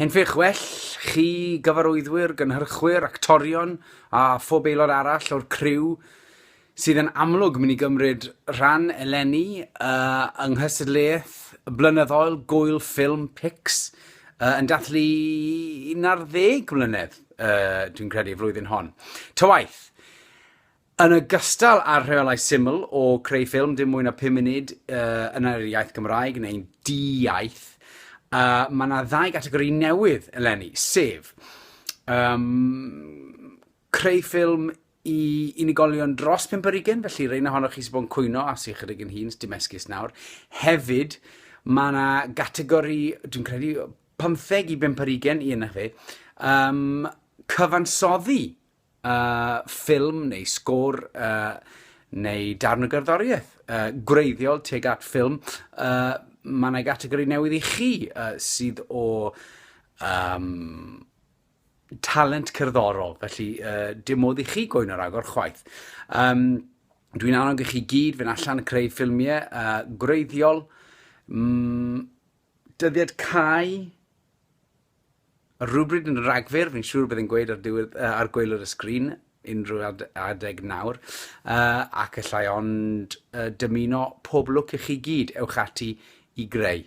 Henffych well chi gyfarwyddwyr, gynhyrchwyr, actorion a phob aelod arall o'r criw sydd yn amlwg mynd i gymryd rhan eleni uh, yng nghystadleuaeth blynyddol Gwyl Ffilm Pix uh, yn dathlu 11 mlynedd, uh, dwi'n credu, y flwyddyn hon. Ta waith, Yn ogystal â'r rheolau syml o creu ffilm dim mwy na 5 munud uh, yn yr iaith Gymraeg neu'n di-iaith, uh, mae yna ddau gategori newydd eleni, sef um, creu ffilm i unigolion dros 5 ar ugen, felly reina honnoch chi sy'n bod yn cwyno a sy'n chydig yn hun, dim esgus nawr. Hefyd, mae yna gategori, dwi'n credu, 15 i 5 ar ugen, i yna fe, um, cyfansoddi uh, ffilm neu sgôr uh, neu darn o gerddoriaeth uh, gwreiddiol tuag at ffilm, uh, mae yna gategori newydd i chi uh, sydd o um, talent cerddorol, felly uh, dim modd i chi gwyno ragor chwaith. Um, Dwi'n annog i chi gyd fynd allan creu ffilmiau uh, gwreiddiol, mm, dyddiad cae, Rhywbryd yn Ragfyr, fi'n siŵr bydd yn gweud ar, diwedd, uh, ar gweilod y sgrin unrhyw ad adeg nawr, uh, ac allai ond uh, dymuno pob lwc i chi gyd, ewch ati i greu.